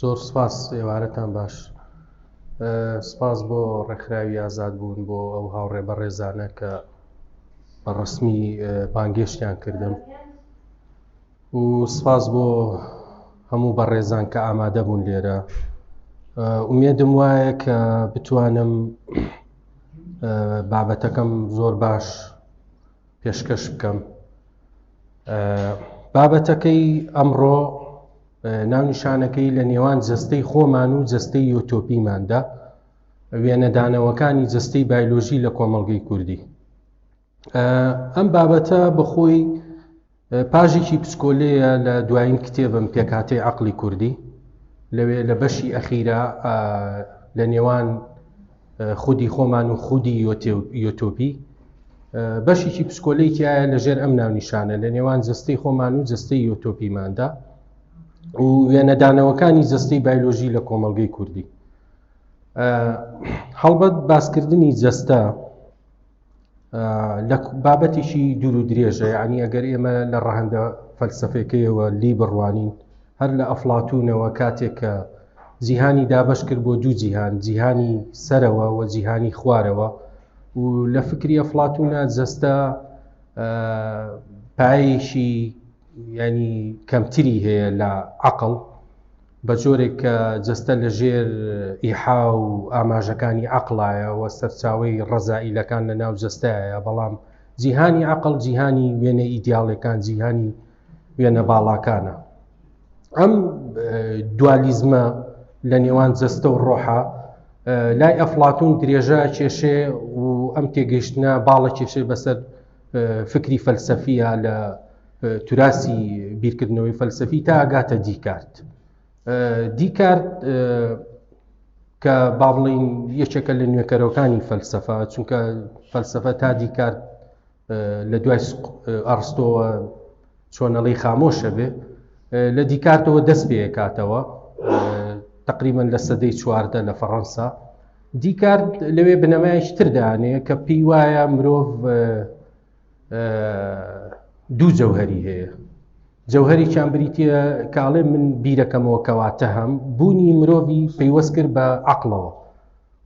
زۆر سپاس ئێوارەتان باش سپاس بۆ ڕێکخراوی ئازاد بوون بۆ ئەو هاوڕێ بەڕێزانە کە بە ڕسمی بانگێشتیان کردم و سپاس بۆ هەموو بەڕێزان کە ئامادە بوون لێرە ئومێدم وایە کە بتوانم بابەتەکەم زۆر باش پێشکەش بکەم بابەتەکەی ئەمڕۆ ناونیشانەکەی لە نێوان جەستەی خۆمان و جەستەی یۆتۆپیماندا وێنەدانەوەکانی جەستەی بایلۆژی لە کۆمەڵگەی کوردی ئەم بابەتە بەخۆی پاژێکی پسکۆلەیە لە دوایین کتێبم پێکاتەی عقلی کوردی لەوێ لە بەشی ئەخیرا لە نێوان خودی خۆمان و خودی یۆتۆپی بەشێکی پسکۆلەیتیایە لەژێر ئەم ناونیشانە لە نێوان جستەی خۆمان و جستەی یۆتۆپیماندا و وێنەدانەوەکانی جستەی بایلۆژی لە کۆمەلگەی کوردی هەڵبەت باسکردنی جەستە لە بابەتیشی دوور و درێژە یعنی ئەگەر ئێمە لە ڕەهندە فەلسفەکەیەوە لی بڕوانین هەر لە ئەفلاتونەوە کاتێک کە جیهانی دابش کرد بۆ دوو جیهان جیهانی سەرەوە و جیهانی خوارەوە و لە فکری ئەفلاتونە جەستە پایشی ینی کەمتری هەیە لە عقل بە جۆرێک کە جەستە لە ژێر ئیحا و ئاماژەکانی عقلایە و سەرچاوی ڕەزائیلەکان لە ناو جەستایە بەڵام جیهانی عقل جیهانی وێنە ئیدیاڵەکان جیهانی وێنە باڵاکانە ئەم دوالیزمە لە نێوان جەستە و ڕۆحە لای ئەفلاتون درێژە کێشێ و ئەم تێگەشتە باڵە کێشێ بەسەر فکری فەلسەفیە لە توراسی بیرکردنەوەی فەلسەفی تا ئەگاتە دیکارت دیکارت کە با بڵین یەکێکە لە نوێکەرەوەکانی فەلسەفە چونکە فەلسەفە تا دیکارت لە دوای ئەڕستەوە چۆنەڵی خامۆشە بێ لە دیکارتەوە دەست پێکاتەوە تقریبان لە سەدەی چواردە لە فەڕەنسا دیکارت لەوێ بنەمایش تردانەیە کە پێی وایە مرۆڤ دوو جەوهری هەیە جەوهریان بریتە کاڵێ من بیرەکەمەوە کەواتە هەم بوونی مرۆڤی پەیوەست کرد بە عقلەوە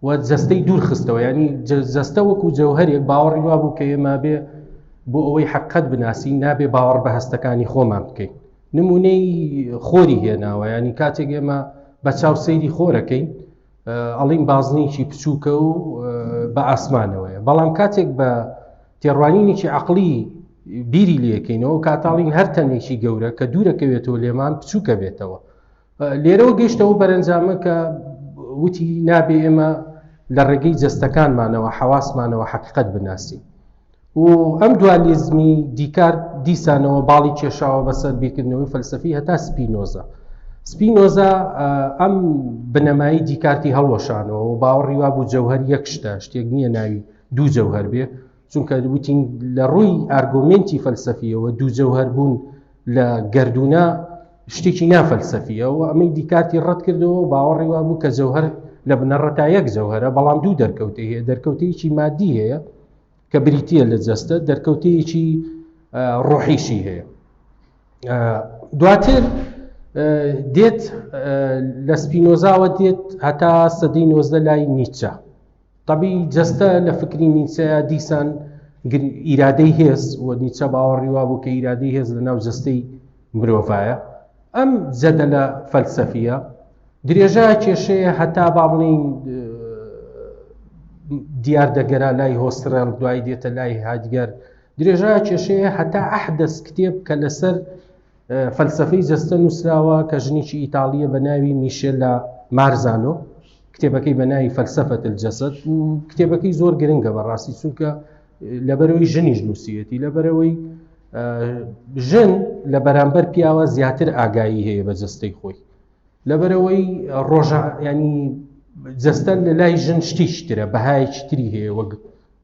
و جەستەی دوور خستەوە ینی جەستە وەکو جەوهرێک باوەڕی وا بوو کە ئێمە بێ بۆ ئەوەی حقت بناسی نابێ باوەڕ بە هەستەکانی خۆمان بکەین نمونەی خۆری هێناوە ینی کاتێک ئێمە بە چاو سەیری خۆرەکەین ئەڵین بازنیکی بچووکە و بە ئاسمانەوەیە بەڵام کاتێک بە تێڕوانینێکی عقلی بیری لەکەینەوە کاتاڵین هەر تەنێکی گەورە کە دوورەکەوێتەوە لێمان بچووکە بێتەوە لێرەوە گەشتەوە بەرەنجامە کە وتی نابێ ئێمە لە ڕێگەی جەستەکانمانەوە حەواسمانەوە حقیقت بناسیین و ئەم دوالیزمی دیکارت دیسانەوە باڵی کێشاوە بەسەر بیرکردنەوەی فەلسەفی هەتا سپینۆزا سپینۆزا ئەم بنەمایی دیکارتی هەڵوەشانەوە و باوەڕی وا بوو جەوهر یەک شتە شتێک نییە ناوی دوو جەوهر بێ چونکە وتین لە ڕووی ئارگۆمنتی فەلسەفیەوە دوو جەوهر بوون لە گردونە شتێکی نافەلسەفیە و ئەمەی دیکارتی ڕەت کردەوە و باوەڕی وا بوو کە جەوهر لە بنەڕەتا یەک جەوهرە بەڵام دوو دەرکەوتی هەیە دەرکەوتەیەکی مادی هەیە کە بریتییە لە جەستە دەرکەوتەیەکی ڕۆحیشی هەیە دواتر دێت لە سپینۆزاوە دێت هەتا سەدەی نۆزدە لای نیچە طبی جەستە لە فکری نیچە دیسان ئیرادەی هێز و نیچە باوەڕی وا بوو کە ئیرادەی هێز لە ناو جەستەی مرۆڤایە ئەم جەدە لە فەلسەفیە درێژە کێشەیە هەتا با بڵین دیار دەگەرا لای هۆسترێڵ دوای دێتە لای هادگەر درێژە کێشەیە هەتا ئەحدەس کتێب کە لەسەر فەلسفەی جەستە نووسراوە کە ژنیی ئیتاالیە بە ناوی میشێل لە مارزانۆ کتێبەکەی بە ناوی فەلسفەت جەسەد و کتێبەکەی زۆر گرنگە بە ڕاستی چونکە لەبەرەوەی ژنیش نووسەتی لەبەرەوەی ژن لە بەرامبەر پیاوە زیاتر ئاگایی هەیە بە جستەی خۆی لەبەرەوەی ڕۆژە ینی جەستە لە لای ژن شتیشترە بەهایەکی تری هەیە وەک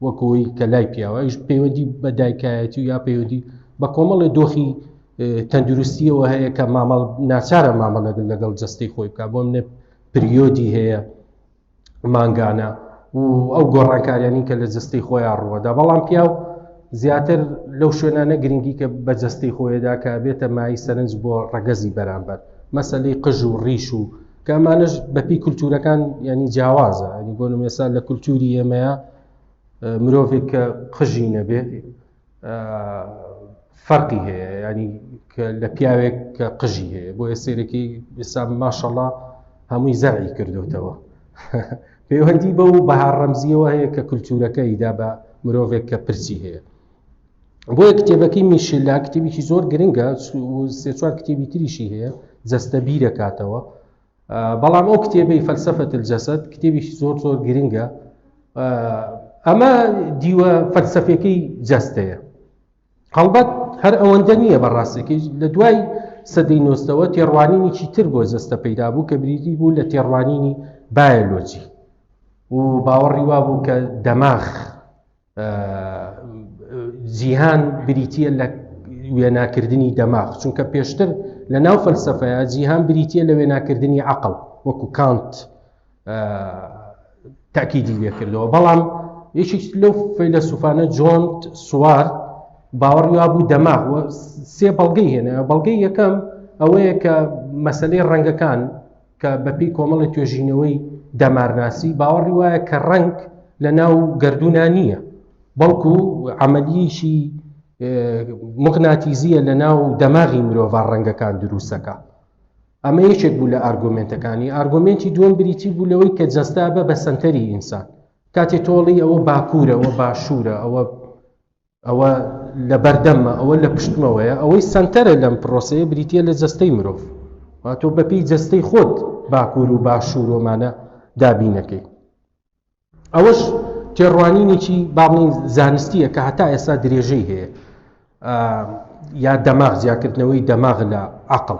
وەکەوەی کە لای پیاوەش پەیوەندی بە دایکایەتی و یا پەیوەندی بە کۆمەڵی دۆخی تەندروستیەوە هەیە کە مامەڵ ناچارە مامەڵەگەن لەگەڵ جەستەی خۆی بکە بۆم نە پریۆدی هەیە مانگانە و ئەو گۆڕانکاریانی کە لە جستەی خۆیان ڕوەدا بەڵام پیاو زیاتر لەو شوێنانە گرنگی کە بە جستەی خۆیدا کە بێتە مای سەرنج بۆ ڕەگەزی بەرامبەر مەسلەی قژ و ڕیش و کە ئەمانش بەپی کولتورەکان ینی جیاوازە ئەنی بۆ نمێسا لە کولتوری ئێمەیە مرۆڤێک کە قژی نەبێ فەرقی هەیە ینی لە پیاوێک کە قژی هەیە بۆیە سێرەکی ئێستا ماشەڵا هەمووی زەرعی کردوتەوە پەیوەندی بە و بەها ڕەمزیەوە هەیە کە کللتورەکە ئیدا بە مرۆڤێک کە پرسی هەیە بۆیە کتێبەکەی میشلا کتێبیی زۆر گرنگە سێ چوار کتێبی تریشی هەیە جەستە بیرەکاتەوە بەڵام ئەو کتێبی فەلسفە الجسد کتێبیشی زۆر زۆر گرنگە ئەمە دیوە فەلسفەکەی جەستەیە هەڵبەت هەر ئەوەندە نییە بەڕاستەکەی لە دوای سەدەی نۆستەوە تێڕوانینیی تر بۆ جەستە پەیدا بوو کە بریدی بوو لە تێڕوانینی بایەلۆجی و باوەڕی وا بوو کە دەماخ جیهان بریتە لە وێناکردنی دەماغ چونکە پێشتر لە ناو فەلسفەیە جیهان بریتە لە وێناکردنی عقل وەکو کانت تاکیدی لێکردەوە بەڵام یەکێک لەو فەیلە سوفانە جۆن سوار باوەڕی وابوو دەماغ سێ بەڵگەی هێنە بەڵگەی یەکەم ئەوەیە کە مەسلەی ڕەنگەکان کە بەپی کۆمەڵی توێژینەوەی دەمارناسی باوەڕی وایە کە ڕنگ لە ناو گردونا نییە بەڵکو عملیشی مغناتیزیە لە ناو دەماغی مرۆڤ ڕەنگەکان دروستەکە ئەمە یەکێک بوو لە ئارگومنتەکانی ئارگومنتی دووەم بریتی بوو لەوەی کە جەستا بە بە سنتەری ئینسان کاتێ تۆڵی ئەوە باکوورە ئەوە باشوورە ئەوە ئەوە لە بەردەممە، ئەوە لە پشتمەوەیە، ئەوەی سەنتەرە لەم پرۆسەیە بریتییە لە جەستەی مرۆڤ، وا تۆ بەپێی جەستەی خۆت باکوور و باشوور و ئەمانە دابینەکەی. ئەوەش تێڕوانینێکی با بڵێین زانستییە کە هەتا ئێستا درێژەی هەیە، یا دەماغ جیاکردنەوەی دەماغ لە عەقڵ.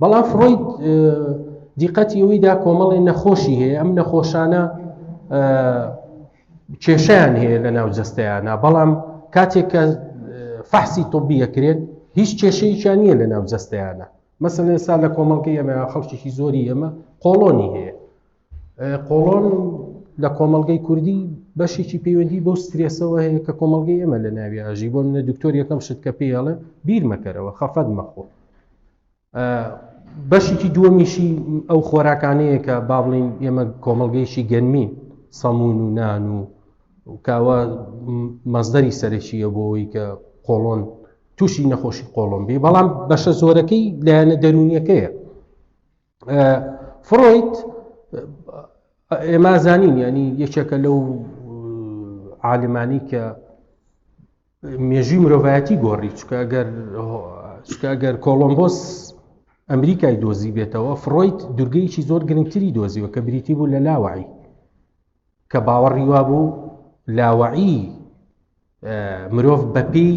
بەڵام فرۆید دیقەتی ئەوەی دا کۆمەڵی نەخۆشی هەیە ئەم نەخۆشانە کێشیان هەیە لە ناو جستەیانە بەڵام کاتێک کە فەحسی تۆبیەکرێت هیچ کێشەیەکیان نییە لە ناو جستەیانە مەسن ئێستا لە کۆمەڵگەی ئەمە خەڵکیی زۆری ئەمە قۆڵۆنی هەیە قۆڵۆن لە کۆمەڵگەی کوردی بەشێکی پەیوەندی بۆ سترێسەوە هەیە کە کۆمەڵگەی ئێمە لە ناوی ئاژی بۆ منە دکتۆر یەکەم شت کە پێڵێ بیرمەکەرەوە خەفەت مەخۆ بەشێکی دووەمیشی ئەو خۆراکانەیە کە با بڵین ئێمە کۆمەڵگەیشی گەنمی سەمون و نان و کاوە مەزدەری سەرەکیە بۆەوەی کە قۆڵۆن تووشی نەخۆشی قۆڵۆمبی بەڵام بەشە زۆرەکەی لایەنە دەرونیەکەیە فرۆید ئێما زانین ینی یەکێکە لەو عالمانی کە مێژوی مرۆڤایەتی گۆڕی چکە گەر چکە گەر کۆڵۆمبۆس ئەمریکای دۆزی بێتەوە فرۆید دورگەیەکی زۆر گرنگتری دۆزیوە کە بریتی بوو لە لاوعی کە باوەڕی وابوو لاوەعی مرۆڤ بەپی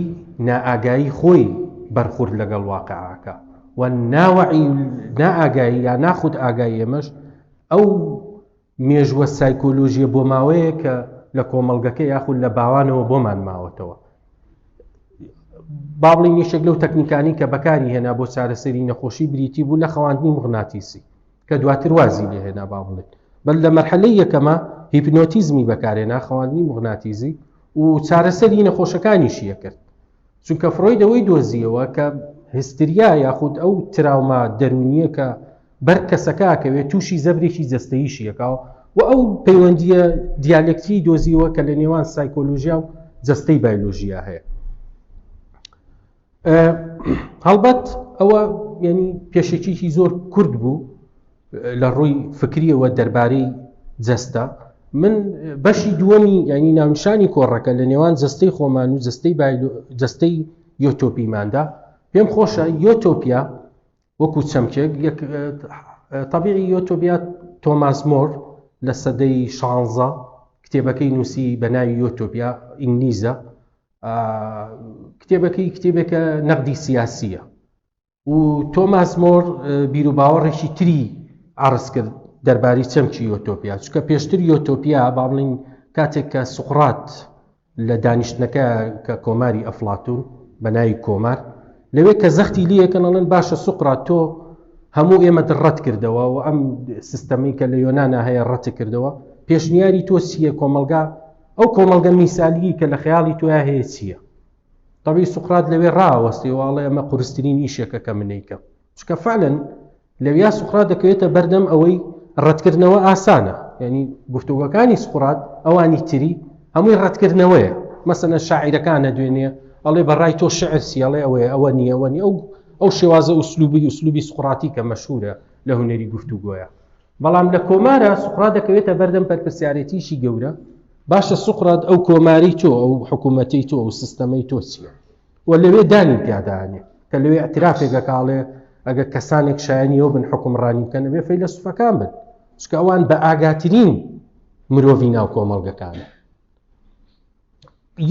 نائاگایی خۆی بەرخورد لەگەڵ واقعاکە و ناوەعی نائاگایی یا ناخود ئاگایی ئێمەش ئەو مێژوە سایکۆلۆژیە بۆ ماوەیە کە لە کۆمەلگەکە یاخود لە باوانەوە بۆمان ماوەتەوە باڵی نیشێک لەو تەکنیکانی کە بەکاری هێنا بۆ چارەسەری نەخۆشی بریتی بوو لە خەواندنی مغناتیسی کە دواتر وازی لێ هێنا با بڵێین بەل لە مەرحەلەی یەکەمە هیپنۆتیزمی بەکارهێنا خەواندنی مغناتیزی و چارەسەری نەخۆشەکانیشیە کرد چونکە فرۆید ئەوەی دۆزیەوە کە هستریا یاخود ئەو تراوما دەرونیە کە بەر کەسەکە کەوێت تووشی زەبرێکی جستەیشیەکەەوە و ئەو پەیوەندیە دیالکتی دۆزیەوە کە لە نێوان سایکۆلۆژیا و جستەی بایلۆژیا هەیە هەڵبەت ئەوە ینی پێشێکیی زۆر کورد بوو لە ڕووی فکریەوە دەربارەی جەستە من بەشی دووەمی ینی ناونشانی کۆڕەکە لە نێوان جستەی خۆمان و جستەی جستەی یۆتۆپیماندا پێم خۆشە یۆتۆپیا وەکو چەمکێک طبیعی یۆتۆبیا تۆماس مۆر لە سەدەی شانزە کتێبەکەی نووسی بە ناوی یۆتۆپیا ئینگلیزە کتێبەکەی کتێبێکە نەقدی سیاسیە و تۆماس مۆر بیر و باوەڕێکی تری ئارس کرد دەرباری چەمکی یۆتۆپیا چکە پێشتر یۆتۆپیا باڵین کاتێک کە سوقڕات لە دانیشتنەکە کە کۆماری ئەفلاتون بە ناوی کۆمار لەوێ کە زەختی لیەکەنەڵێن باشە سوقرات تۆ هەموو ئێمە ڕەت کردەوە و ئەم سیستەمی کە لە یۆنانا هەیە ڕەت کردەوە پێشنیاری تۆسیە کۆمەلگا ئەو کۆمەڵگە میسالیەی کە لە خەیاڵی تۆیا هەیە چییە؟ تەبی سوقرات لەوێ ڕاوەستی واڵێ ئەمە قورسترین ئیشێکە کە منەیکەم چکە فعلەن لەویا سوقرات دەکەوێتە بەردەم ئەوەی ڕەتکردنەوە ئاسانە یعنی گفتوگەکانی سقرات ئەوانی تری هەمووی ڕەتکردنەوەیە مەسەنە شاعیرەکانە دوێنێ ئەڵێ بەڕای تۆ شعر سیڵێ ئەوەیە ئەوە نییە ئەوە نیە ئەو ئەو شێوازە ئوسلوبی ئوسلوبی سقراتی کە مەشهورە لە هوەری گفتوگۆیە بەڵام لە کۆمارە سوقرات دەکەوێتە بەردەم پەرپرسیارێتیشی گەورە باشە سوقرات ئەو کۆماری تۆ ئەو حکوومەتی تۆ ئەو سیستەمەی تۆ چییە و لەوێ دانی پیادانێ کە لەوێ ئەترافێک دەکاڵێ ئەگە کەسانێک شایانیەوە بن حکومڕانی بکەن ئەبێ فەی لە سوفەکان بن چکە ئەوان بە ئاگاترین مرۆڤی ناو کۆمەڵگەکانە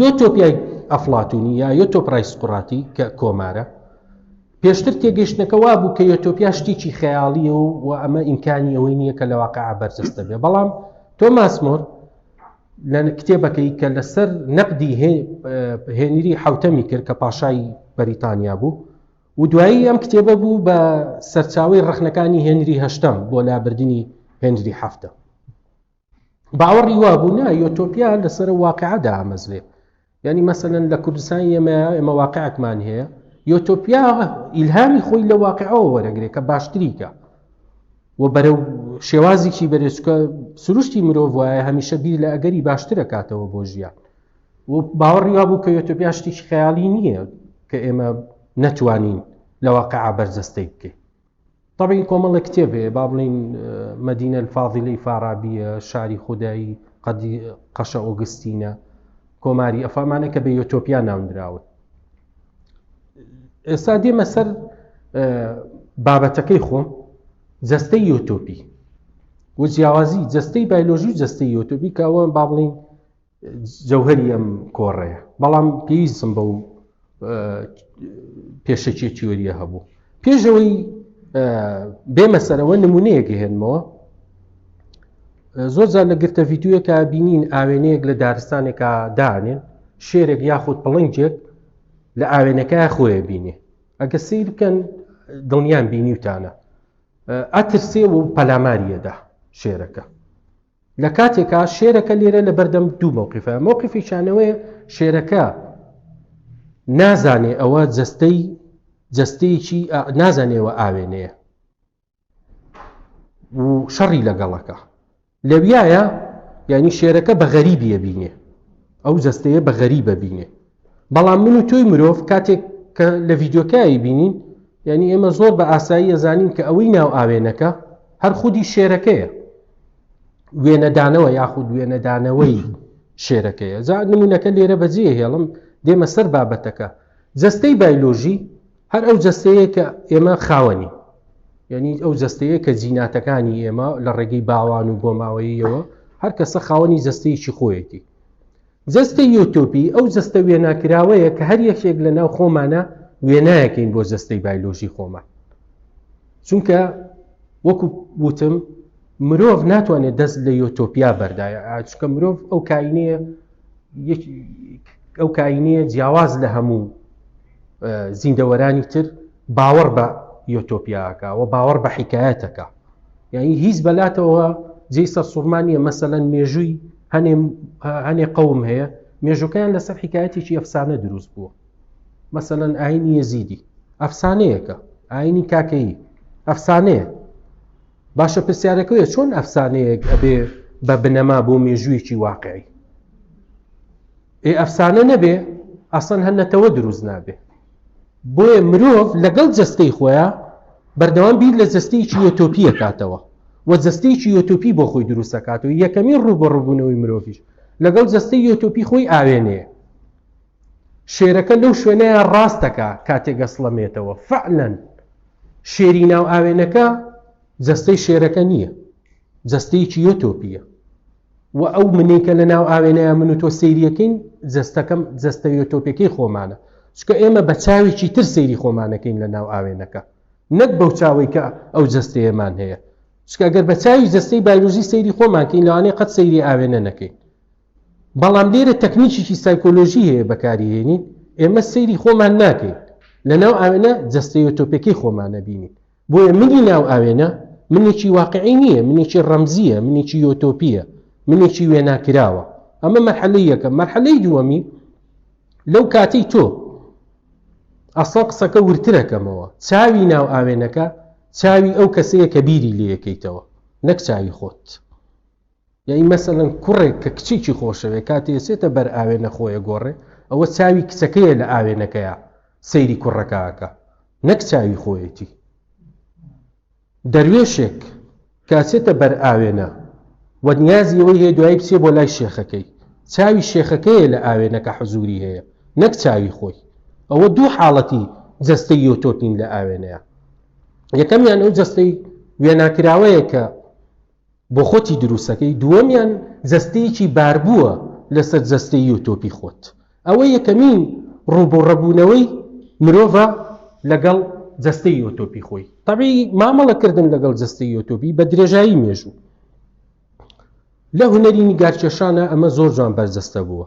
یۆتۆپیای ئەفڵاتونی یا یۆتۆپرای سقوڕاتی کە کۆمارە، پێشتر تێگەیشتنەکە وابوو کە یۆتۆپیا شتێکی خەیاڵییە و و ئەمە ئیمکانی ئەوەی نییە کە لە واقعا بەرجەستە بێ بەڵام تۆماس مۆر لە کتێبەکەی کە لەسەر نەقدی هێنری حوتەمی کرد کە پاشای بەریتانیا بوو و دوایی ئەم کتێبە بوو بە سەرچاوی ڕخنەکانی هێنری هەشتم بۆ لابردنی هێنری هەفتە باوەڕی وابوو نا یۆتۆپیا لەسەر واقعدا ئامەزرێ ینی مەسەن لە کوردستان ئێمە ئێمە واقعکمان هەیە یۆتۆپیا ئیلهامی خۆی لە واقعەوە وەرەگرێ کە باشتریکە و بەرەو شێوازیکی بەرێچکە سروشتی مرۆڤ وایە هەمیشە بیر لە ئەگەری باشترە کاتەوە بۆ ژیان و باوەڕی وابوو کە یۆتۆپیا شتێکی خەیاڵی نییە کە ئێمە نەتوانین لە واقع بەرجەستەی بکەین تەبعی کۆمەڵێک کتێب هەیە با بڵێین مەدینە الفاضلی فارابیە شاری خودایی قەدی قەشە ئۆگستینە کۆماری ئەفامانە کە بە یۆتۆپیا ناوندراون ئێستا دێمە سەر بابەتەکەی خۆم جەستەی یۆتۆپی و جیاوازی جەستەی بایلۆژی و جەستەی یۆتۆپی کەوە با بڵین جەوهەری ئەم کۆڕەیە، بەڵام پێویستم بەو پێشەکییە تیۆرییە هەبوو. پێش ئەوەی بێمە سەرەوە نمونەیەک هێنمەوە، زۆر جار لە گرتە ڤیددیوەکە بینین ئاوێنەیەک لە دارستانێکا دانێن شێرێک یاخود پڵنجێک لە ئاوێنەکە خۆیە بینێ ئەگە سیر بکەن دڵنیان بینیوتانە ئەترسێ و پەلاماریەدا شێرەکە لە کاتێکا شێرەکە لێرە لە بەردەم دوو مەوقیفە مەوقیفی شانەوەیە شێرەکە نازانێ ئەوە جەستەی جەستەیەکی نازانێەوە ئاوێنەیە و شەڕی لەگەڵەکە لەویایە یعنی شێرەکە بە غەریبیە بینێ ئەو جەستەیە بە غەریبە بینێ بەڵام من و تۆی مرۆڤ کاتێک کە لە ڤیدیۆکەی بینین یعنی ئێمە زۆر بە ئاسایی ئەزانین کە ئەوەی ناو ئاوێنەکە هەر خودی شێرەکەیە وێنەدانەوە یاخود وێنەدانەوەی شێرەکەیە جا نمونونەکە لێرە بەجێ هێڵم دێمە سەر بابەتەکە جستەی بایلۆژی هەر ئەو جستەیە کە ئێمە خاوەنی یعنی ئەو جستەیە کە جیناتەکانی ئێمە لە ڕێگەی باوان و بۆماوەیەوە هەر کەسە خاوەنی جستەیەکی خۆیەتی جەستەی یۆتۆپی ئەو جەستە وێناکراوەیە کە هەر یەکێک لە ناو خۆمانە وێنایەکەین بۆ جەستەی بایلۆژی خۆمان چونکە وەکو وتم مرۆڤ ناتوانێت دەست لە یۆتۆپیا بەردایە چکە مرۆڤ ئەو کاینەیە ئەو کاینەیە جیاواز لە هەموو زیندەوەرانی تر باوەڕ بە یۆتۆپیاکە و باوەڕ بە حیکایەتەکە یعنی هیچ بەلاتەوە جێی سەرسوڕما نییە مەسەەن مێژووی هەنێ قەوم هەیە مێژوەکەیان لەسەر حکایەتێکی ئەفسانە دروست بووە مەسەەن ئاینی یەزیدی ئەفسانەیەکە ئاینی کاکەیی ئەفسانەیە باشە پرسیارەکەوێ چۆن ئەفسانەیەک ئەبێ بە بنەما بۆ مێژوویەکی واقعی ئێ ئەفسانە نەبێ ئەسڵەن هەر نەتەوە دروست نابێ بۆیە مرۆڤ لەگەڵ جەستەی خۆیان بەردەوام بیر لە جەستەیەکی یۆتۆپیە کاتەوە و جەستەیەکی یۆتۆپی بۆ خۆی دروستەکات و یەکەمی ڕوو بە ڕووبوونەوەی مرۆڤش لەگەڵ جەستەی یۆتۆپی خۆی ئاوێنەیە شێرەکە لەو شوێنەیە ڕاستەکە کاتێک گەسڵەمێتەوە فعلەن شێری ناو ئاوێنەکە جەستەی شێرەکە نییە جەستەیەکی یۆتۆپیە و ئەو منەی کە لە ناو ئاوێنەیە من و تۆ سەیریەکەین جستەکەم جستەویە تۆپێکی خۆمانە چکە ئێمە بە چاوێکی تر سەیری خۆمانەکەین لە ناو ئاوێنەکە نەک بەو چاوی کە ئەو جستەیەمان هەیە چکە گەر بە چاوی جستەی بایلوزی سەیری خۆمانکەین لەوانێ قەت سەیری ئاوێنە نەکەین بەڵام لێرە تەکنیکیی سایکۆلۆژی هەیە بەکاریێنین ئێمە سەیری خۆمان ناکەین لە ناو ئاوێنە جستەویە تۆپێکی خۆمانە بینین بۆیە منی ناو ئاوێنە منێکی واقعی نییە، منێکی ڕەمزییە، منێکی یۆتۆپییە، منێکی وێناکراوە. ئەمە مەرحەلەی یەکەم. مەرحەلەی دووەمی، لەو کاتەی تۆ ئەسڵەن قسەکە ورترەکەمەوە، چاوی ناو ئاوێنەکە چاوی ئەو کەسەیە کە بیری لێ یەکەیتەوە، نەک چاوی خۆت. یەعنی مەسەلەن کوڕێک کە کچێکی خۆشەوێ کاتێ ئەچێتە بەر ئاوێنە خۆی ئەگۆڕێ ئەوە چاوی کچەکەیە لە ئاوێنەکەیا سەیری کوڕەکە ئەکا نەک چاوی خۆیەتی دەروێشێک کە ئەچێتە بەر ئاوێنە و نیازی ئەوەی هەیە دوایی بچێ بۆ لای شێخەکەی چاوی شێخەکەیە لە ئاوێنەکە حەزوری هەیە نەک چاوی خۆی ئەوە دوو حاڵەتی جەستەی یۆتۆپین لە ئاوێنەیە یەکەمیان ئەو جەستەی وێناکراوەیە کە بۆ خۆتی دروستەکەی دووەمیان جەستەیەکی باربووە لەسەر جەستەی و تۆپی خۆت ئەوە یەکەمین ڕوبوڕبونەوەی مرۆڤە لەگەڵ جەستەی و تۆپی خۆی تەبی مامەڵە کردن لەگەڵ جەستەی و تۆبی بە درێژایی مێژوو لە هونەری نیگارکێشانە ئەمە زۆر جوان بەرجەستە بووە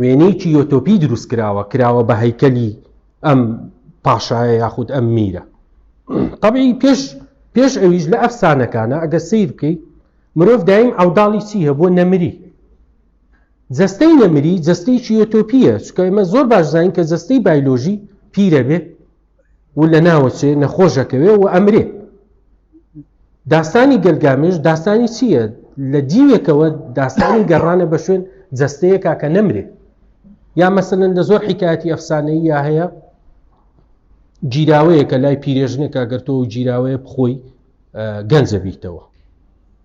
وێنەیەکی یۆتۆپی دروست کراوە کراوە بە هەیکەلی ئەم پاشایە یاخود ئەم میرە طبعی پێش پێش ئەویش لە ئەفسانەکانە ئەگە سیر بکەی مرۆڤ دایم ئەوداڵی چی هەبوو نەمری جستەی نەمری جستەیەکی یۆتۆپیە چکە ئمە زۆر باش زانین کە جستەی بایلۆژی پیرە بێ و لە ناوەچێ نەخۆش ئەکەوێ و ئەمرێ داستانی گەلگامێش داستانی چییە لە دیوێکەوە داستانی گەڕانە بە شوێن جەستەیەکا کە نەمرێ یا مەسەن لە زۆر حکایەتی ئەفسانەی یا هەیە گیراوەیە کە لای پیرێژنێکە گەرتەوە گیراوەیە بخۆی گەنجە بیتەوە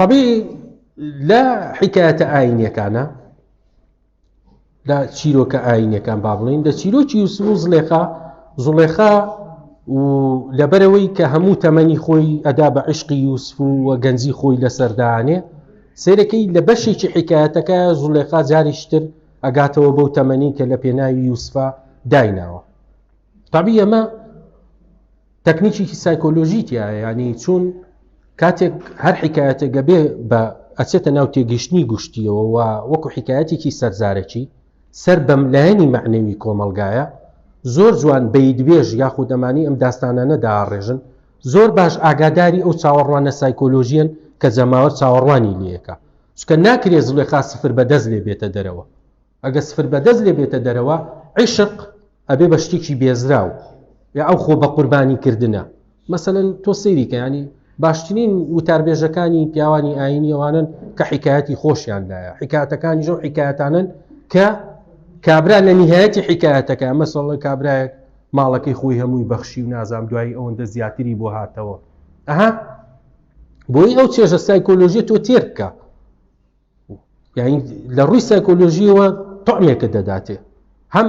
طبیعی لە حکایەتە ئاینەکانە لە چیرۆکە ئاینەکان با بڵین لە چیرۆکی یوسف و زلێخا زڵێخا و لەبەرەوەی کە هەموو تەمەنی خۆی ئەدا بە عشقی یوسف و وە گەنجی خۆی لە سەردانێ سێرەکەی لە بەشێکی حکایەتەکە زولێخا جاریشتر ئەگاتەوە بەو تەمەنی کە لە پێناوی یوسفا دایناوە تابی ئەمە تەکنیکیکی سایکۆلۆژی تیا ینی چون کاتێک هەر حکایەتە گەبێ بە ئەچێتە ناو تێگەشتنی گشتیەوە و وەکو حکایەتێکی سەرزارەکی سەر بەم لایەنی معنەوی کۆمەلگایە زۆر جوان بەیدبێژ یاخود ئەمانی ئەم داستانانە داڕێژن زۆر باش ئاگاداری ئەو چاوەڕوانە سایکۆلۆژیەن کە جەماوەر چاوەڕوانی لەکە چکە ناکرێ زلێخا سفر بەدەست لێ بێتە دەرەوە ئەگەر سفر بەدەست لێ بێتە دەرەوە، عیشق ئەبێ بە شتێکی بێزراو، یا ئەو خۆ بە قوربانی کردنە. مەسەلەن تۆ سەیری کە یانی باشترین وتاربێژەکانی پیاوانی ئاینی ئەوانن کە حکایەتی خۆشیان لایە حکایەتەکانی ژەو حکایەتانن کە کابرا لە نهایەتی حکایەتەکە مەسەڵە کابراەک ماڵەکەی خۆی هەمووی بەخشی و نازام دوایی ئەوەندە زیاتری بۆ هاتەوە ئەها بۆی ئەو چێژە سایکۆلۆژیە تۆ تێرکە یعنی لە ڕووی سایکۆلۆژیەوە تۆمێکە دەداتێ هەم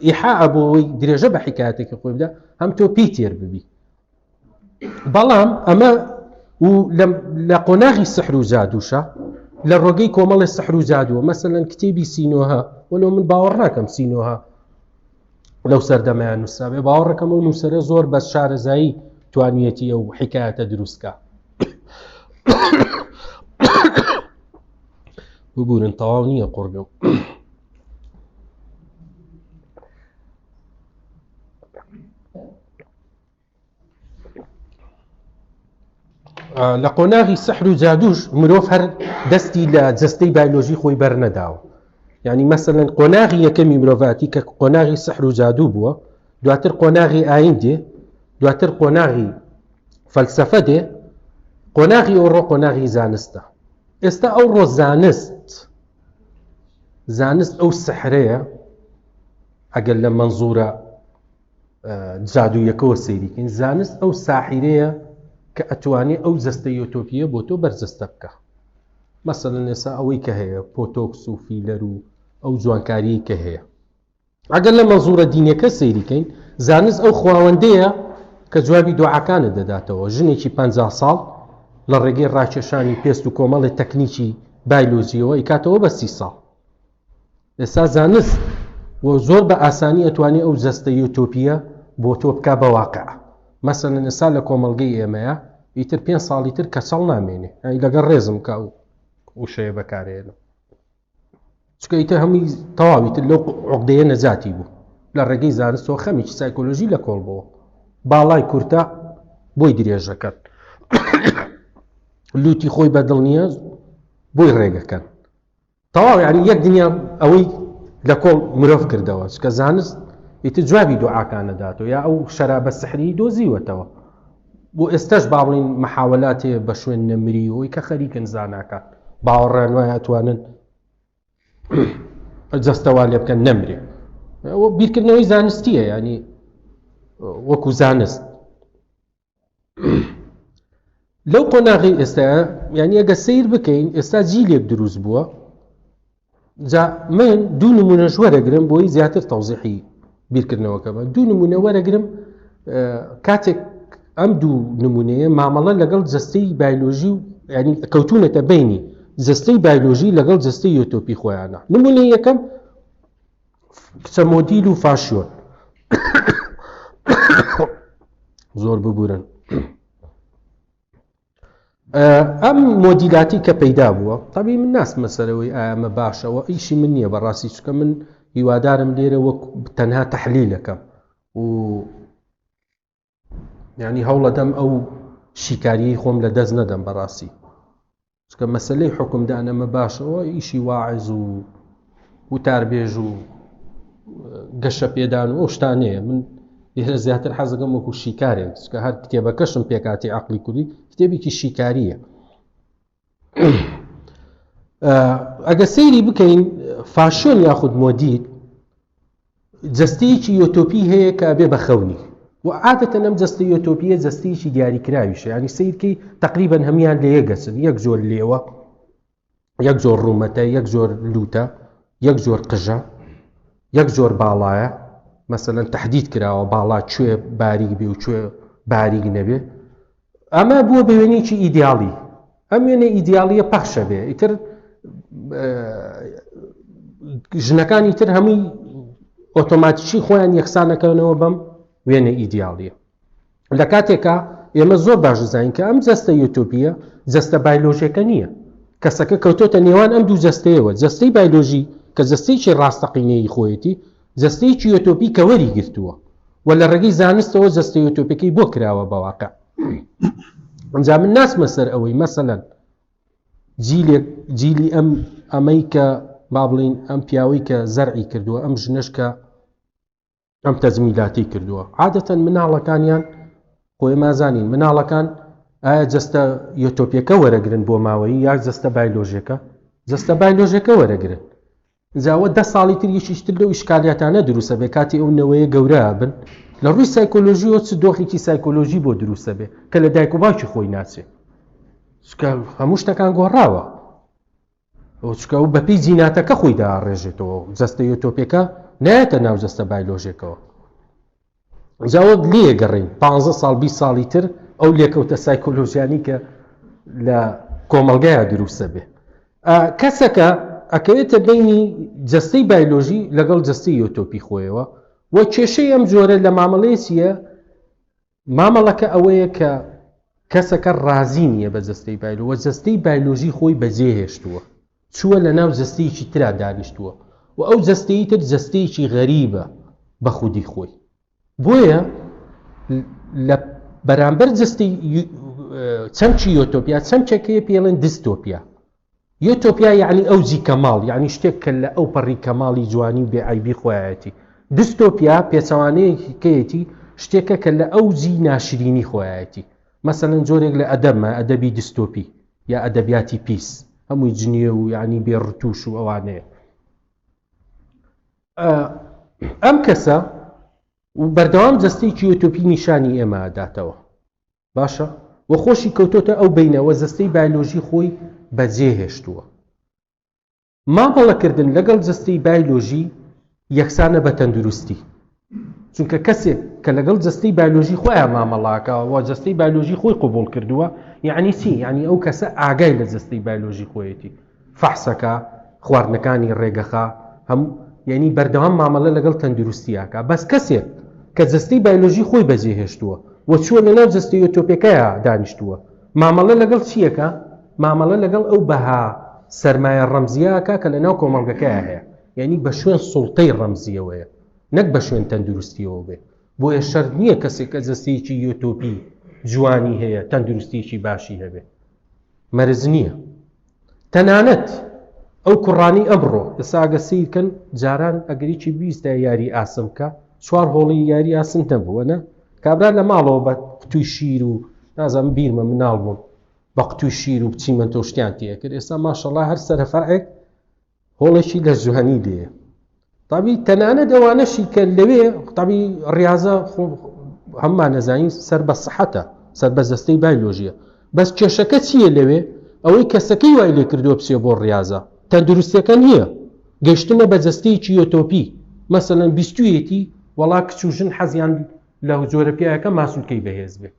ئیحا ئەبەوەی درێژە بە حکایەتێکی خۆی بدە هەم تۆ پێی تێر ببی بەڵام ئەمە و لە قۆناغی سەحر و جادووشە لە ڕۆگەی کۆمەڵی سەحر و جادووە مەسەن کتێبی سینۆها وەلو من باوەڕ ناکەم سینۆها لەو سەردەمەیان نووسابێ باوەڕەکەم و نووسرە زۆر بە شارەزایی توانیەتی ئەو حکایەتە دروستکە ببورن تەواو نییە قڕگەم لە قۆناغی سەحر و جادوش مرۆڤ هەر دەستی لە جستەی بایلۆژی خۆی بەرنەداوە ینی مەسەن قۆناغی یەکەمی مرۆڤاتی کە قۆناغی سەحر و جادو بووە دواتر قۆناغی ئاین دێ دواتر قۆناغی فەلسەفە دێ قۆناغی ئەوڕۆ قۆناغی زانستە ئێستا ئەو ڕۆ زانست زانست ئەو سەحرەیە ئەگەر لە منزورە جادوویەکەەوە سەیریکەین زانست ئەو ساحیرەیە کە ئەتوانێ ئەو جستە یۆتۆپیە بۆ تۆ بەرجستە بکە مەسەن لەسا ئەوەی کە هەیە پۆتۆکس و فیلەر و ئەو جوانکاریی کە هەیە ئەگەر لە مەنزوورە دینیەکە سەیری کەین، زانست ئەو خواوەندەیە کە جوابی دوعاکانت دەداتەوە، ژنێکی پەنجا ساڵ لە ڕێگەی ڕاکێشانی پێست و کۆمەڵێ تەکنیکی بایلۆجیەوە ئەیکاتەوە بە سی ساڵ. ئێستا زانست و زۆر بە ئاسانی ئەتوانێ ئەو جەستە یۆتۆپیە بۆ تۆ بکا بە واقع. مەسەلەن ئێستا لە کۆمەڵگەی ئێمەیە ئیتر پێنج ساڵی تر کەچەڵ نامێنێ، لەگەڵ ڕێزم کە ئەو وشەیە بەکارێنم. چکە ئیتر هەمووی تەواوی تر لەو عقدەیە نەجاتی بوو لە ڕێگەی زانستەوە خەمیکی سایکۆلۆژی لە کۆڵ بووە باڵای کورتە بۆی درێژەکەن لوتی خۆی بە دڵنیە بۆی ڕێگەکەن تەواو یاری یەک دنیا ئەوەی لە کۆڵ مرۆڤ کردەوە چکە زانست ئیتر جوابی دوعاکان نەداتەوە یا ئەو شەرابە سحری دۆزیوەتەوە بۆ ئێستاش با بڵێین محاولات هەیە بە شوێن نەمری ئەوی کە خەریکن زاناکان باوەڕیان وایە ئەتوانن جەستەوا لێ بکەن نەمرێ ئەوە بیرکردنەوەی زانستیە ینی وەکو زانست لەو قۆناغی ئێستا ینی ئەگە سیر بکەین ئێستا جیلێک دروست بووە جا من دوو نمونەش وەرەگرم بۆی زیاتر تەوزیحی بیرکردنەوەکەمە دوو نمونە وەرەگرم کاتێک ئەم دوو نمونەیە مامەڵە لەگەڵ جستەی بایلۆژی و ینی کەوتونەتە بینی جستەی بایلۆژی لەگەڵ جستەی یۆتۆپی خۆیانە نمونە یەکەم کچە مۆدیل و فاشیۆن زۆر ببورن ئەم مۆدیلاتی کە پەیدا بووە تەبی من ناسمە سەرەوەی ئامە باشەوە ئیشی من نییە بە ڕاستی چکە من هیوادارم لێرە وەک تەنها تحلیلەکەم و ینی هەوڵەدەم ئەو شیکاریی خۆم لە دەست نەدەم بەڕاستی چکە مەسلەی حکومدانەمە باشەوە ئیشی واعز و وتاربێژ و گەشەپێدان و ئەو شتانەیە من لێرە زیاتر حەزەکەم وەکو شیکارێک کە هەر کتێبەکەشم پێکاتی عقلی کوردی کتێبێکی شیکاریە ئەگە سەیری بکەین فاشۆن یاخود مۆدیت جستەیەکی یۆتۆپی هەیە کە بێ بەخەونی و عادەتە نەم جستە یۆتۆپیە جستەیەکی دیاریکراویشە ینی سیرکەی تقریبان هەمان لە یەگەچن یەک زۆر لێوە یەک جۆر ڕوومەتە یەک جۆر لووتە یەک جۆر قژە یەک جۆر باڵایە مەسەەن تهدید کراوە باڵا کوێ باریک بێ و کوێ باریک نەبێ ئەمە بووە بەوێنێکی ئیدیاڵی ئەم وێنە ئیدیاڵیە پەخشە بێ ئیتر ژنەکانی تر هەمووی ئۆتۆماتیکی خۆیان یەخسانەکەنەوە بەم وێنە ئیدیاڵیە لە کاتێکا ئێمە زۆر باش دەزانین کە ئەم جەستە یۆتۆپیە جەستە بایلۆژیەکە نییە کەسەکە کەوتۆتە نێوان ئەم دوو جەستەیەوە جەستەی بایلۆژی کە جەستەیەکی ڕاستەقینەی خۆیەتی جەستەیەکی یۆتۆپی کە وەری گرتووە و لە ڕێگەی زانستەوە جەستە یۆتۆپەکەی بۆ کراوە بەواقع ئەجا من ناسمە سەر ئەوەی مەسەەن جیلێک جیلی ئەم ئەمەی کە با بڵین ئەم پیاوەی کە زەرعی کردووە ئەم ژنشکە ئەم تەزمیلاتی کردووە عادەتەن مناڵەکانیان خۆی مازانین مناڵەکان ئایا جستە یۆتۆپیەکە وەرەگرن بۆ ماوەی یا جستە بایلۆژەکە جستە بایلۆژەکە وەرەگرن جاوە ده ساڵی تر یشیشتر لەو شکالیاتانە دروستە بێ کاتی ئەو نەوەیە گەورە بن لە ڕووی سایکۆلۆژیەوە چ دۆخێکی سایکۆلۆژی بۆ دروستە بێ کە لە دایک و باوکی خۆی ناچێت هەموو شتەکان گۆڕاوە چونکە ئەو بەپێی جیناتەکە خۆی داڕێژێتەوە جەستە یۆتۆپێکە نایەتە ناو جەستە بایلۆژێکەوە جاوەک لێگەڕین 15 ساڵ 20 ساڵی تر ئەو لێکەوتە سایکۆلۆژیانی کە لە کۆمەلگایە دروستە بێ کەسەکە ئەکەوێتە بینی جەستەی بایلۆژی لەگەڵ جەستەی یۆتۆپی خۆیەوە و کێشەی ئەم جۆرە لە مامەڵەیە مامەڵەکە ئەوەیە کە کەسەکە ڕازی نییە بە جەستەی بایلۆ و جەستەی بایلۆژی خۆی بەجێهێشتووە چووە لە ناو جەستەیەکی ترا دانیشتووە و ئەو جەستەی تر جەستەیەکی غەریبە بە خودی خۆی بۆیە لە بەرامبەر جستی چەمکی یۆتۆپیا چەمکێکەیە پێڵێن دیستۆپیا یۆتۆپیا یەعنی ئەوجی کەماڵ، یەعنی شتێک کە لە ئەو پەڕی کەماڵی جوانی و بێ عەیبی خۆیایەتی. دیستۆپیا پێچەوانەیەکی کەیەتی، شتێکە کە لە ئەوجی ناشرینی خۆیایەتی. مەسەلەن جۆرێک لە ئەدەبمە، ئەدەبی دیستۆپی، یا ئەدەبیاتی پیس، هەمووی جنێو و یەعنی بێ ڕتووش و ئەوانەیە. ئەم کەسە بەردەوام جەستەیەکی یۆتۆپی نیشانی ئێمە ئەداتەوە. باشە و خۆشی کەوتۆتە ئەو بینەوە جەستەی بایلۆژی خۆی بەجێ هێشتووە مامەڵەکردن لەگەڵ جەستەی بایلۆژی یەکسانە بە تەندروستی چونکە کەسێک کە لەگەڵ جەستەی بایلۆژی خۆیان مامەڵاکەوە جەستەی بایلۆژی خۆی قوبول کردووە یعنی چی یعنی ئەو کەسە ئاگای لە جەستەی بایلۆژی خۆیەتی فەحسەکە، خواردنەکانی ڕێگەخە، هەموو یانی بەردەوام مامەڵە لەگەڵ تەندروستی ئەکا بەس کەسێک کە جەستەی بایلۆژی خۆی بەجێ هێشتووە و چووە لە ناو جەستەی ئۆتۆپێکەیا دانیشتووە مامەڵە لەگەڵ چیەکە مامەڵە لەگەڵ ئەو بەها سەرمایە ڕەمزیاکە کە لە ناو کۆمەڵگەکەیا هەیە یعنی بە شوێن سوڵتەی ڕەمزیەوەیە نەک بە شوێن تەندروستیەوە بێ بۆیە شەر نییە کەسێک کە جەستەیەکی یۆتۆپی جوانی هەیە تەندروستیەکی باشی هەبێ مەرج نییە تەنانەت ئەو کوڕانی ئەمڕۆ ئێستا ئەگە سیرکەن جاران ئەگەریی بیستە یاری ئاسن بکە چوار هۆڵی یاری ئاسن نەبووە نە کابرا لە ماڵەوە بە قوتوی شیر و نازم بیرمە مناڵ بووم بە قوتوی شیر و بچیمە تۆشتیان تێکرد ئێستا ماشەڵا هەر سەرفاعێک هۆڵێکی لە زوهنی لێیە تابی تەنانەت ئەوانەشی کە لەوێ قوتابی ڕاضە هەممان نەزانین سەر بە سەحەتە سەر بە جەستەی بایلۆژیە بەس کێشەکە چییە لەوێ ئەوەی کەسەکەی وای لێ کردووە بچێ بۆ ڕاضە تەندروستەکە نییە گەشتنە بە جەستەیەکی یۆتۆپی مەسەەن بیستویەتی وەڵا کچ و ژن حەزیان لە جۆرە پیاەکە ماسوولکەی بەهێز بێ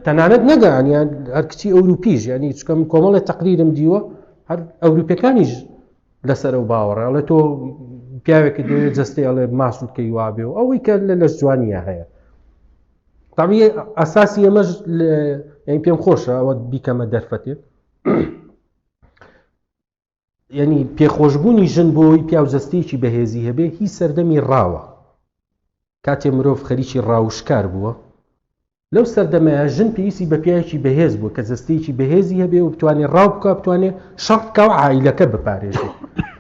تەنانەت نەگەیانیان هەر کچی ئەوروپیش ینی چکەم کۆمەڵی تەقریرم دیوە هەر ئەوروپەکانیش لەسەر ئەو باوەڕێ ئەڵێ تۆ پیاوێکی دێ جستی ئەڵێ ماسوود کەی وابێ و ئەوەی کە لە لەش جوانیە هەیە تامی ئەساسی ئەمەش پێم خۆشە ئەوە بیکەمە دەرفەتێ یعنی پێخۆشبوونی ژن بۆی پیاو جەستەیەکی بەهێزی هەبێ هی سەردەمی ڕاوە کاتێ مرۆڤ خەریکی ڕاوشکار بووە لەو سەردەمەیە ژن پێویستی بە پیاوێکی بەهێز بوو کە جەستەیەکی بەهێزی هەبێ و بتوانێ ڕاو بکە بتوانێ شەڕ بکە و عیلەکە بپارێزێ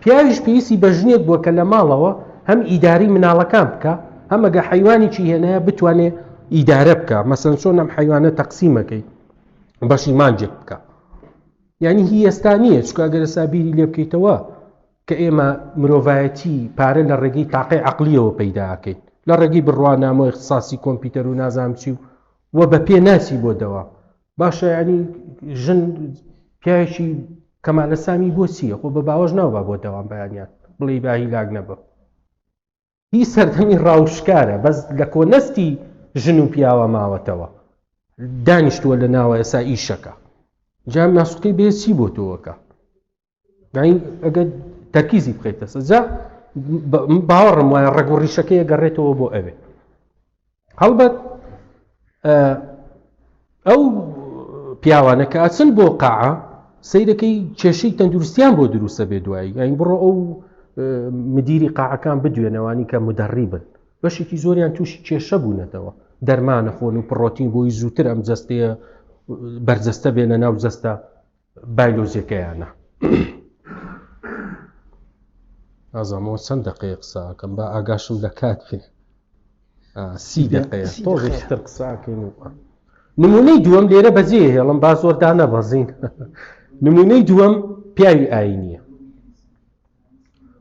پیاویش پێویستی بە ژنێک بووە کە لە ماڵەوە هەم ئیداری مناڵەکان بکە هەمەگە حیوانیی هێنایە بتوانێ ئیدارە بکە مەسەن چۆن ئەم حیوانە تەقسیمەکەی بەشی مانجێک بکە یانی هی ئێستا نییە چکە ئەگەر ئێستا بیری لێ بکەیتەوە کە ئێمە مرۆڤایەتی پارە لە ڕێگەی تاقی عقلیەوە پەیداکەین لە ڕێگەی بڕوانامۆ اختصاسی کۆمپیوتەر و نازام چی و و بە پێ ناچی بۆ دەوە باشە ینی ژن پیاوێکی کەمالە سامی بۆ چییە خۆ بە باوەش ناوبا بۆ دەوام بەیانیان بڵێ باهی لاگ نەبە هی سەردەمی ڕاوشکارە بەس لە کۆنەستی ژن و پیاوە ماوەتەوە دانیشتووە لە ناوە ئێسا ئیشەکە جام ناسوتەی بێ چی بۆ تۆوەکە ئەگەر تەرکیزی بخیتە سەجا باوەڕم وایە ڕگوڕیشەکەی گەڕێتەوە بۆ ئەوێ هەڵبەت ئەو پیاوانە کە ئاچن بۆ قاعە سیرەکەی کێشەی تەندروستیان بۆ دروستە بێ دوایی ئەین بڕۆ ئەو مدیری قاعەکان بدوێنەوانی کە مدەڕی بن بەشێکی زۆریان تووشی کێشە بوونەتەوە دەرمانە خۆن و پڕۆتین بۆی زووتر ئەم جستەیە بەرجەستە بێنە ناو جەستە بایلۆجیەکەیانە. نازانمەوە چەند دەقەیە قساکەم با ئاگاشم لە کات بێ سی دەقەیە تۆزتر قساکەین و نمونەی دووەم لێرە بەجێ هێڵم با زۆردا نەبەزین نمونەی دووەم پیاوی ئاینیە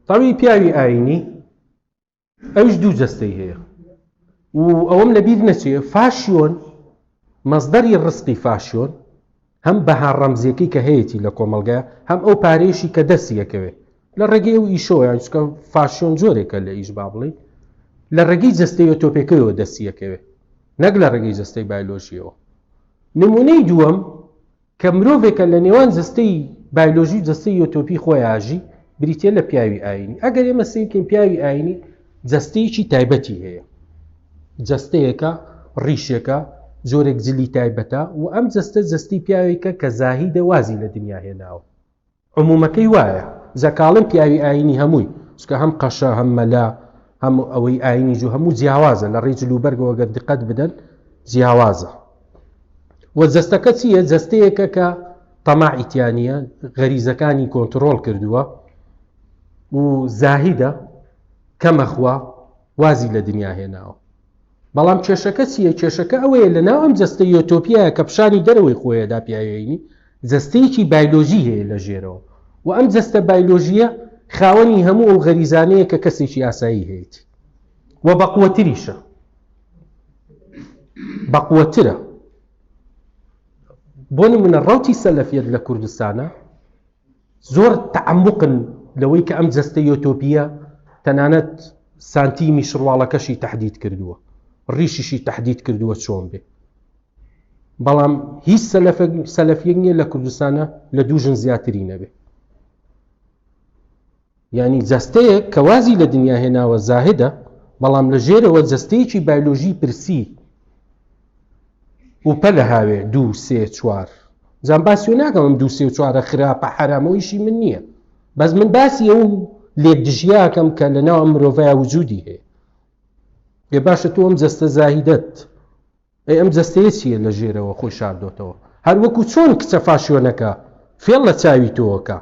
تاوی پیاوی ئاینی ئەویش دوو جەستەی هەیە و ئەوەم لە بیر نەچێ فاشیۆن مەزدەری ڕسقی فاشیۆن هەم بەها ڕەمزیەکەی کە هەیەی لە کۆمەلگە هەم ئەو پارێشی کە دەسیەکەوێ لە ڕێگەی و ئیشۆیان چکە فاشیۆن جۆرێکە لە ئیش با بڵێ لە ڕێگەی جستەیە تۆپێکەوە دەسیەکەوێ نەک لە ڕێگەی جستەی بایلۆژیەوە نمونەی دووەم کە مرۆڤێکە لە نێوان جەستەی بایلۆژی و جەستەی یۆتۆپی خۆیان ئەژی، بریتییە لە پیاوی ئایینی. ئەگەر ئێمە سەیر بکەین پیاوی ئایینی جەستەیەکی تایبەتی هەیە. جەستەیەکە، ڕیشێکە، جۆرێک جلی تایبەتە و ئەم جەستە جەستەی پیاوێکە کە زاهیدە وازی لە دنیا هێناوە. عمومەکەی وایە زەکاڵێم پیاوی ئاینی هەمووی چکە هەم قەشە هەم مەلا هەم ئەوەی ئاینی جو هەموو جیاوازە لە ڕێی جلوبەرگەوە گەر دقەت بدەن جیاوازە و جەستەکە چییە جەستەیەکە کە تەماعیتیانە غەریزەکانی کۆنتترۆل کردووە و زاهیدە کەمەخوا وازی لە دنیا هێناوە بەڵام کێشەکە چییە؟ کێشەکە ئەوەیە لەناو ئەم جەستە یۆتۆپیایە کە پشانی دەرەوەی خۆیەدا پیاێینی، جەستەیەکی بایلۆژی هەیە لە ژێرەوە و ئەم جەستە بایلۆژییە خاوەنی هەموو ئەو غەریزانەیە کە کەسێکی ئاسایی هەیەتی و بەقوەتریشە، بەقوەترە. بۆ نموونە ڕەوتی سەلەفیەت لە کوردستانە، زۆر تەعەموقن لەوەی کە ئەم جەستە یۆتۆپییە تەنانەت سانتیمی شڕواڵەکەشی تەحدید کردووە ڕیشیشی تەحدید کردووە چۆن بێ بەڵام هیچ سەلەفیەک نییە لە کوردستانە لە دوو ژن زیاتری نەبێ یانی جەستەیەک کە وازی لە دنیا هێناوە زاهدە، بەڵام لە ژێرەوە جەستەیەکی بایلۆژی پرسی و پەلە هاوێ دوو سێ چوار جام باسیۆ ناکەم ئەم دوو سێ و چوارە خراپە حرامۆیشی من نییە بەس من باسی ئەو لێک دژیاکەم کە لە ناو ئەم مرۆڤای وجودی هەیە بێ باشە تۆ ئەم جەستە زاهیدەت ئەی ئەم جەستەیە چییە لە ژێرەوە خۆی شاردۆتەوە؟ هەر وەکوو چۆن کچە فاشیۆنەکە فێڵ لە چاوی تۆ ئەکا.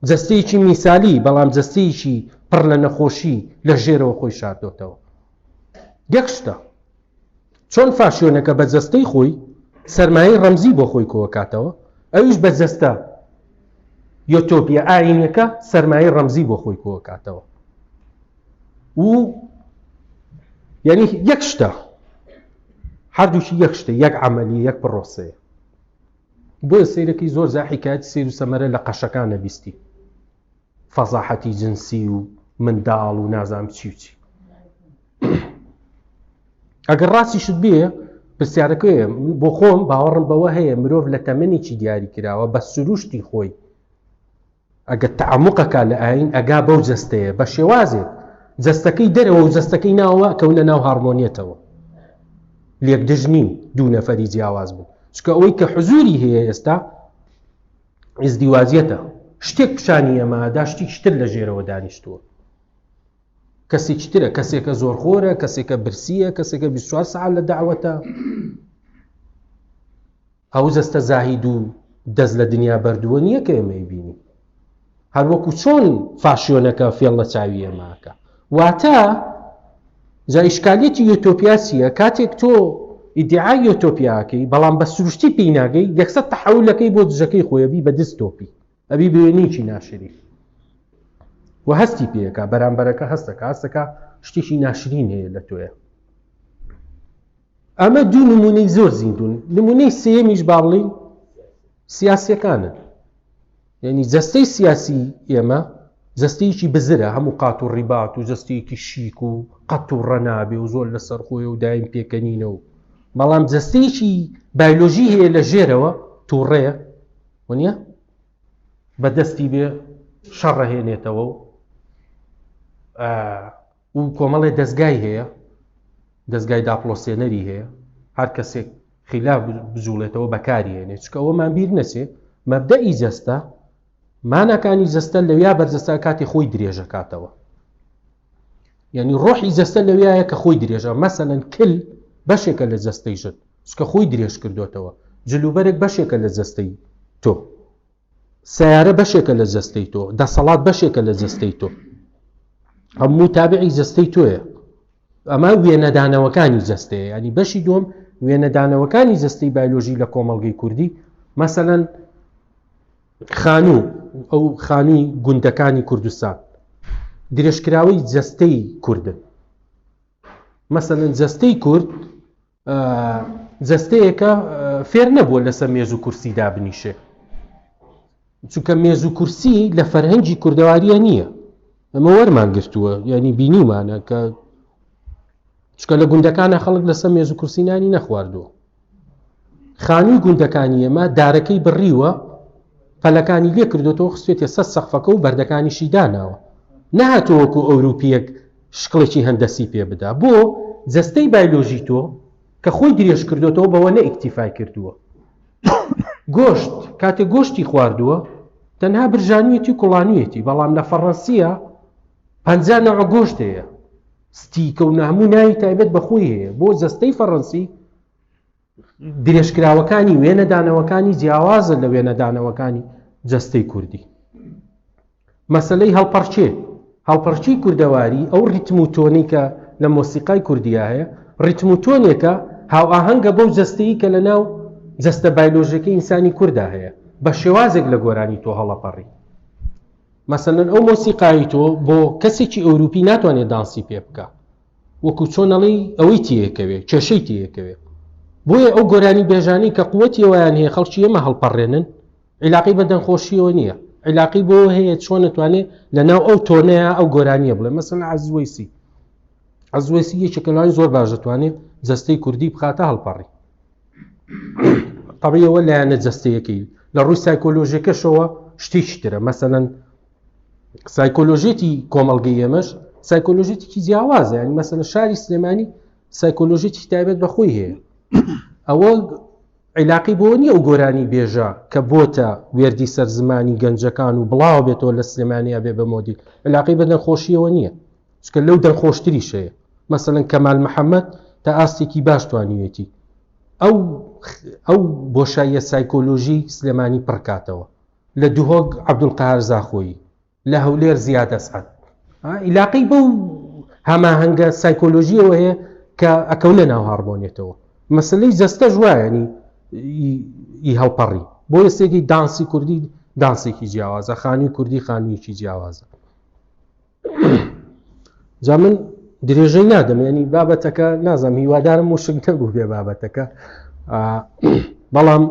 جەستەیەکی میسالی، بەڵام جەستەیەکی پڕ لە نەخۆشی لە ژێرەوە خۆی شاردۆتەوە. یەک شتە، چۆن فاشیۆنەکە بە جەستەی خۆی سەرمایەی ڕەمزی بۆ خۆی کۆ ئەکاتەوە، ئەویش بە جەستە یۆتۆپییە ئایینییەکە سەرمایەی ڕەمزی بۆ خۆی کۆ ئەکاتەوە. و یعنی یەک شتە هەردووکی یەک شتە یەک عملی یەک پرۆسەیە بۆیە سیرەکەی زۆر زاحیکات سیر و سەمەرە لە قەشەکان نەبیستی فەزاحەتی جنسی و منداڵ و نازام چی بچی ئەگەر ڕاستیشت بێ پرسیارەکە بۆ خۆم باوەڕم بەوە هەیە مرۆڤ لە تەمەنێکی دیاری کراوە بە سروشتی خۆی ئەگەر تەعەموقە کا لە ئایین ئەگا بەو جەستەیە بە شێوازێک جەستەکەی دەرەوە و جەستەکەی ناوە کەونە ناو هارمۆنیەتەوە لێک دژ نین دوو نەفەری جیاواز بوو چکە ئەوەی کە حزوری هەیە ئێستا ئزدیواجیەتە شتێک پیشانی ئەمەدا شتی شتر لە ژێرەوە دانیشتووە کەسێک شترە کەسێکە زۆرخۆرە کەسێکە برسیە کەسێکە 24 سعال لە داوەتە ئەو جەستە زاهید و دەست لە دنیا بەردووە نییە کە ئێمەی بینی، هەر وەکو چۆن فاشیۆنەکە فێڵ لە چاوی ئێمە ئەکا. واتە جا ئیشکالیەتی یۆتۆپیا چییە؟ کاتێک تۆ ئیدیعای یۆتۆپیا ئەکەی، بەڵام بە سروشتی پێی ناگەی، یەکسەر تەحەولەکەی بۆ دژەکەی خۆی ئەبی بە دستۆپی. ئەبی بەیەنیکی ناشرین و هەستی پێەکە بەرامبەرەکە هەستەکە هەستەکە شتێکی ناشرین هەیە لە تۆیە ئەمە دوو نمونەی زۆر زیندون نمونەی سێمیش با بڵین سیاسەکانن یعنی جەستەی سیاسی ئێمە جەستەیەکی بزرە هەموو قات و ڕیبات و جەستەیەکی شیک و قەت و ڕەنابێ و زۆر لە سەرخۆی و دایم پێکەنینە و بەڵام جەستەیەکی بایلۆژی هەیە لە ژێرەوە تووڕەیە وەنیە بە دەستی بێ شەڕەهێنێتەوە و و کۆمەڵێ دەستگای هەیە دەستگای داپلۆسێنەری هەیە هەر کەسێک خیلا بجوڵێتەوە بەکاری هێنێ چکە ئەوەمان بیر نەچێ مەبدەئی جەستە مانەکانی جەستە لەویا بەرجەستە کاتی خۆی درێژەکاتەوە یعنی ڕۆحی جەستە لەویایە کە خۆی درێژە مەسەەن کل بەشێکە لە جەستەی ژت سکە خۆی درێژ کردوێتەوە جلوبەرێک بەشێکە لە جەستەی تۆ سیارە بەشێکە لە جەستەی تۆ دەسەڵات بەشێکە لە جەستەی تۆ هەموو تابعی جەستەی تۆیە ئەمە وێنەدانەوەکانی جەستەیە ینی بەشی دوم وێنەدانەوەکانی جەستەی بایلۆژی لە کۆمەلگەی کوردی مەسەەن خانوو و ئەو خانووی گوندەکانی کوردستان درێژکراوەی جەستەی کوردن مەسەن جەستەی کورد جەستەیەکە فێر نەبووە لەسەر مێز و کورسی دابنیشێ چونکە مێز و کورسی لە فەرهەنگی کوردەواریە نییە ئەمە وەرمان گرتووە ینی بینیمانە کە چکە لە گوندەکانە خەڵک لەسەر مێز و کورسینانی نەخواردووە خانووی گوندەکانی ئێمە دارەکەی بڕیوە پەلەکانی لێ کردوێتەوە خستێتە سەر سەقفەکە و بەردەکانیشی داناوە نەهاتووەکو ئەوروپیەک شکڵێکی هەندەسی پێ بدا بۆ جەستەی بایلۆژی تۆ کە خۆی درێژ کردوێتەوە بەوە نە ئیکتیفای کردووە گۆشت کاتێک گۆشتی خواردووە تەنها برژانویەتی و کوڵانویەتی بەڵام لە فەڕەنسیە پەنجا نەوە گۆشتەیە ستیکە و ناموو ناوی تایبەت بە خۆی هەیە بۆ جەستەی فەڕەنسی درێژکراوەکانی وێنەدانەوەکانی جیاوازە لە وێنەدانەوەکانی جەستەی کوردی مەسلەی هەڵپەڕچێ هەڵپەرچی کوردەواری ئەو ریتم و تۆنی کە لە مۆسیقای کوردیا هەیە ریتم و تۆنێکە هاو ئاهەنگە بەو جەستەی کە لە ناو جەستە بایلۆژەکە ئینسانی کوردا هەیە بە شێوازێک لە گۆرانی تۆ هەڵەپەڕی مەسەلەن ئەو مۆسیقایەی تۆ بۆ کەسێکی ئەوروپی ناتوانێت دانسی پێ بکە وەکو چۆنەڵی ئەوەی تێکەوێ کێشەی تێکەوێ بۆیە ئەو گۆرانی بێژانی کە قوتی ئەویان هەیە خەڵکی ئێمە هەڵپەڕێنن عیلاقی بە دەنگخۆشیەوە نییە عیلاقی بۆ هەیە چۆن نتوانێت لەناو ئەو تۆنەیە ئەو گۆرانیە بڵێ مەسن عزوەیسی عزوەسی یەکێکەلوانی زۆر باش دەتوانێت جستەی کوردی بخاتە هەڵپەڕی قڕیەوە لایەنە جەستەیەکەی لە ڕووی سایکۆلۆژیەکەشەوە شتێکی ترە مەسەەن سایکۆلۆژێتی کۆمەلگەی ئێمەش سایکۆلۆژێتیکی جیاوازە ینی مەسەە شاری سلێمانی سایکۆلۆژێتی تایبەت بەخۆی هەیە ئەوە عیلاقی بۆ نییە ئەو گۆرانی بێژە کە بۆتە وێردی سەر زمانی گەنجەکان و بڵاو بێتەوە لە سلێمانیا بێ بە مۆدی علاقی بە نەخۆشیەوە نییە چونکە لەو دەرخۆشتریش هەیە مەسەلەن کەمال محەممەد تا ئاستێکی باش توانیوێتی ئەو ئەو بۆشاییە سایکۆلۆژی سلێمانی پڕکاتەوە لە دهۆک عبدولقار زاخۆیی لە هەولێر زیاد ئەسعد عیلاقی بەو هەماهەنگە سایکۆلۆژیەوە هەیە کە ئەکەونە ناو هاڕمۆنیێتەوە مەسلەی جەستە ژوایانی ئی هەڵپەڕی بۆ یەسێکی دانسی کوردی دانسێکی جیاوازە خانووی کوردی خانوویەکی جیاوازە جا من درێژەی نادەم ینی بابەتەکە نازم هیوادارم و شنکە بوو بێ بابەتەکە بەڵام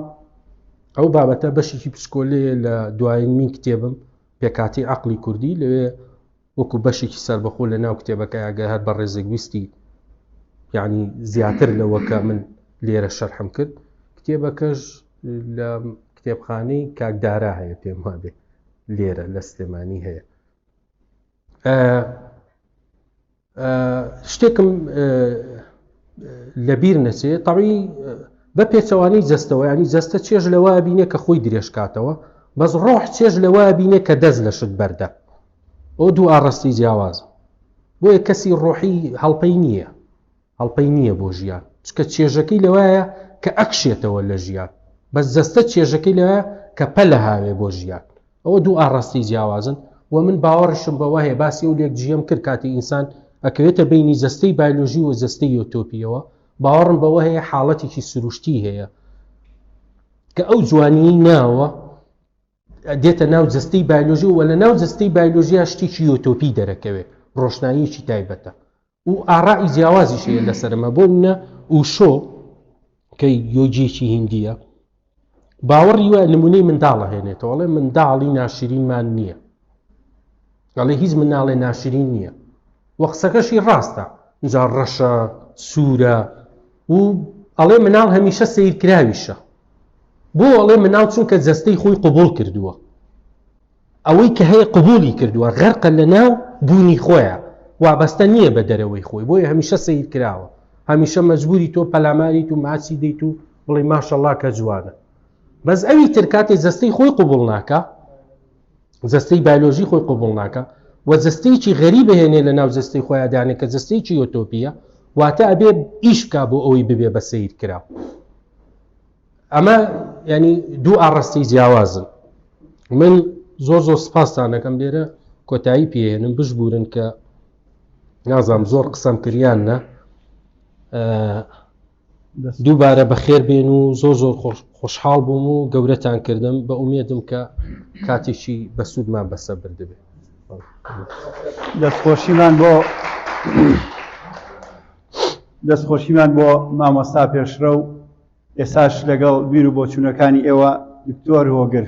ئەو بابەتە بەشێکی پسکۆلێ لە دوایین من کتێبم پێکاتی عقلی کوردی لەوێ وەکو بەشێکی سربەخۆ لە ناو کتێبەکە ئەگە هەر بە ڕێزێک ویستی یعنی زیاتر لەوەکە من لێرە شەرحم کرد کتێبەکەش لە کتێبخانەی کاکدارا هەیە پێم وابێ لێرە لە سلێمانی هەیە شتێکم لەبیر نەچێ تەڕی بە پێچەوانی جەستەوە ینی جەستە چێژ لەوە بینێ کە خۆی درێژکاتەوە بەس ڕۆح چێژ لەوە بینێ کە دەست لە شت بەردە ئەو دوو ئاڕستی جیاواز بۆیە کەسی ڕۆحی هەڵپەی نییە هەڵپەی نییە بۆ ژیان چکە چێژەکەی لەوایە کە ئەکشێتەوە لە ژیان بەس جەستە چێژەکەی لەوایە کە پەلە هاوێ بۆ ژیان ئەوە دوو ئاڕاستەی جیاوازن و من باوەڕشم بەوە هەیە باسی و لێک جیەم کرد کاتی ئینسان ئەکەوێتە بینی جەستەی بایلۆژی و جەستەی یۆتۆپیەوە باوەڕم بەوە هەیە حاڵەتێکی سروشتی هەیە کە ئەو جوانیی ناوە دێتە ناو جستەی بایلۆژی و لە ناو جستەی بایلۆژیا شتێکی یۆتۆپی دەرەکەوێت ڕۆشناییکی تایبەتە و ئاڕائی جیاوازیش هەیە لەسەرمە بۆ منە ئوشۆ کە یۆجێکی هندیە باوەڕی وە نمونەی منداڵە هێنێتەوەڵێ منداڵی ناشرینمان نییە ئەڵێ هیچ مناڵێ ناشرین نییە وە قسەکەشی ڕاستە جا ڕەشە سوورە و ئەڵێ مناڵ هەمیشە سیرکراویشە بۆ ئەڵێ مناڵ چونکە جەستەی خۆی قوبول کردووە ئەوەی کە هەیە قبوڵی کردوە غەرقە لەناو بونی خۆیا وابەستە نیە بە دەرەوەی خۆی بۆیە هەمیشە سەیر کراوە هەمیشە مەجبوری تۆ پەلاماریت و ماچی دەیت و بڵی ماشەڵا کە جوانە بەس ئەوی تر کاتێ جەستەی خۆی قبوڵ ناکە جەستەی بایلۆژی خۆی قبوڵ ناکە و جەستەیەکی غەری بهێنێ لە ناو جەستەی خۆیان دانێ کە جەستەیەکی یۆتۆپیە واتە ئەبێ ئیش بکە بۆ ئەوەی ببێ بە سیر کرا ئەمە ینی دوو ئاڕستی جیاوازن من زۆر زۆر سپاستان دەکەم لێرە کۆتایی پێێنم بشبورن کە نازام زۆر قسەم کردیان نە دووبارە بەخێر بێن و زۆر زۆر خۆشحاڵ بووم و گەورەتان کردم بە ئومێدم کە کاتێکی بەسوودمان بەسە بردبێت دەستخۆشیمان بۆ دەستخۆشیمان بۆ مامۆستا پێشرە و ئێستاش لەگەڵ بیر و بۆچوونەکانی ئێوە دکتۆر هۆگر.